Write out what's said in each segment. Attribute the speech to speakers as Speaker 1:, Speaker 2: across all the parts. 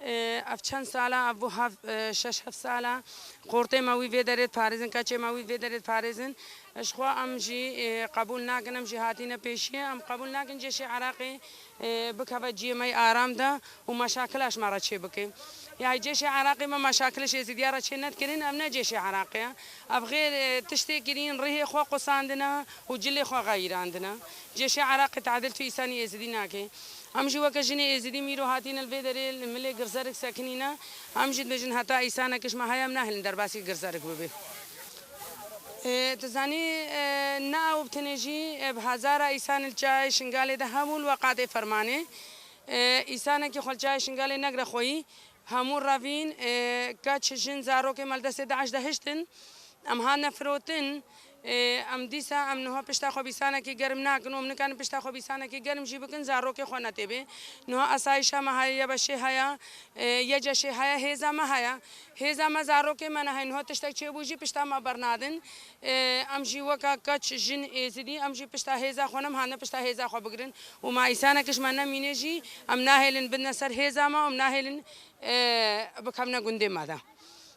Speaker 1: Ev çend sal e, ev bû heft, şeş heft sal e. Qortê me wî vê derê diparêzin, keçê me wî vê derê diparêzin. Jixwe em jî qebûl nakin, em jî hatîne pêşiyê. Em qebûl nakin cêşê Iraqê bikeve ciyê me yê aram de û meşakila ji me re çê bike. Yayê cêşê Iraqê me meşakilê ji Êzîdiyan re çê nedikirîn, ev ne cêşê Iraqê ye. Ev xêr tiştê kirîn, rihê xwe qusandine û cilê xwe xeyirandine. Cêşê Iraqê tehdil tu îsanî Êzîdî nake. Em jî weke jinê êzidî mîro hatîne li vê derê li milê girzerik sekinîne. Em jî dibêjin heta îsane kişma heye em nehêlin derbasî girzerik bibê. Tu zanî ne ew bi tenê jî bi hezara îsane li Çiyayê Şingalê de hebûn weqatê fermanê. Îsanekî xwe li Çiyayê Şingalê negire xweyî Hemû revîn, keç, jin, zarok ê maldestê DAIŞ de hiştin. Em hatine firotin. Em dîsa em niha pişta xwe bîsanekî germ nakin û em nikarin pişta xwe bîsanekî germ jî bikin zarokê xwe netêbê. Niha asayîşa me heye, yebeşê heye, yeceşê heye, hêza me heye. Hêza me zarokê me ne heye. Niha tiştek çêbû jî pişta me bernadin. Em jî weka keç, jin, êzidî em jî pişta hêza xwe nem hatine pişta hêza xwe bigirin û ma îsanekiş me nemîne jî em nahêlin bidine ser hêza me û em nahêlin bikevine gundê me de.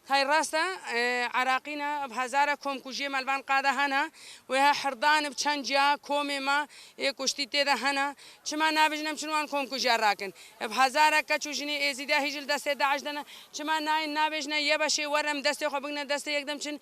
Speaker 1: Hay rast e Iraqî ne bi hezare komkujiyê me li van qada hene wê he hirdanê bi çend ciya komê me yê kuştî tê de hene çima nabêjin em çin wan komkujiya rakin bi hezare keç û jinê êzîdiya hî jî li destê DAIŞ de ne çima nayên nabêjine yebeşê werin em destê xwe bigine destê yekdem çin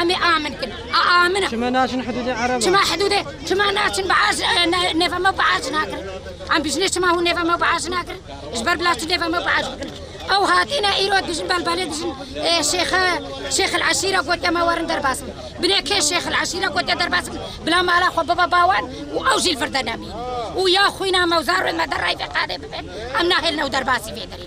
Speaker 1: Em ê amin kin. A amin e. Çima naçin hidûdê Ereb e? Çima hidûdê? Çima naçin bi aş nêva me bi aş nakirin? Em bijinê çima hûn nêva me bi aş nakirin? Ji ber bila çi nêva me bi aş bikirin? Ew hatîne îro dijin belbelê dijin şêxe şêxil eşîre gotiye me werin derbas bin. Binê kê şêxil eşîre gotiye derbas bin bila mala xwe bibe bawan û ew jî vir de nemîn. û ya xwîna mewzar û me der rayfê qadê bibe em nahêlin ew derbasî vê derê.